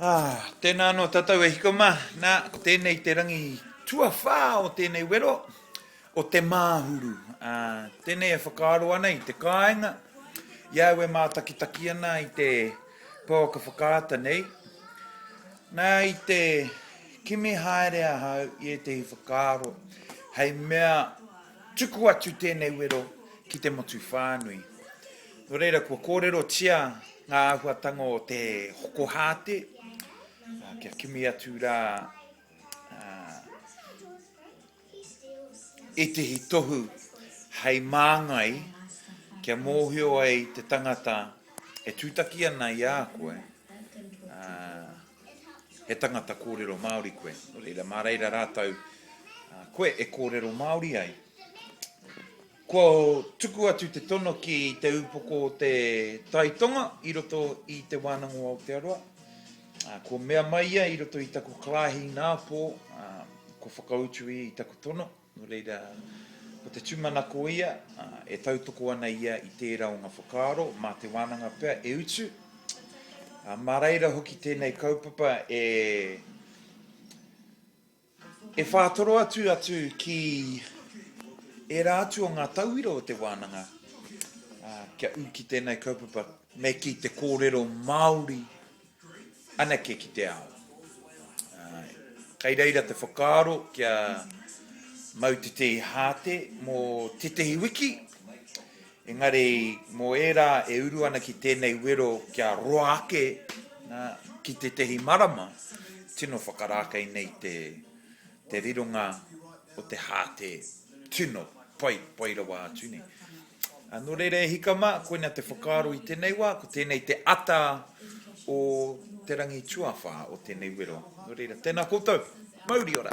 Ah, tēnā anō tātou e hiko mā. Nā, ko tēnei te rangi tuawhā o tēnei wero, o Te Māhuru. Ah, tēnei e whakaaro ana i te kāinga, i au e mātakitaki ana i te pouaka whakaata nei. Nā, i te kimi haere ahau i ētehi whakaaro, hei mea Tuku atu tēnei wero ki te motu whānui. Nō reira, kua kōrerotia ngā āhuatanga o te hoko hāte, kia kimi atu rā ētehi tohu hei māngai kia mōhio ai te tangata e tūtaki ana i a koe, He tangata kōrero Māori koe, nō reira, mā reira rātou koe e kōrero Māori ai. Kua tuku atu te tono ki te upoko o te Tai Tonga i roto i Te Wānanga o Aotearoa. Kua mea mai ia i roto i taku Karahi Nāpō, kua whakautu ia i taku tono. Nō reira, ko te tūmanako ia, e tautoko ana ia i tērā o ngā whakaaro mā te wānanga pea e utu. Mā reira hoki tēnei kaupapa e e whātoro atu atu ki ērā atu o ngā tauira o te wānanga kia ū ki tēnei kaupapa me kī te kōrero Māori anake ki te ao. Kai reira te whakaaro kia mau tetehi hāte mō tētehi wiki, engari mō ērā e uru ana ki tēnei wero kia roa ake ki tētehi marama, tino whakarākei nei te. te rironga o te hāte tino pai, pai rawa atu nei. Ā, nō reira e hika mā, koina te whakaaro i tēnei wā, ko tēnei te ata o te rangi tuawhā o tēnei wero. Nō reira, tēnā koutou, mauri ora!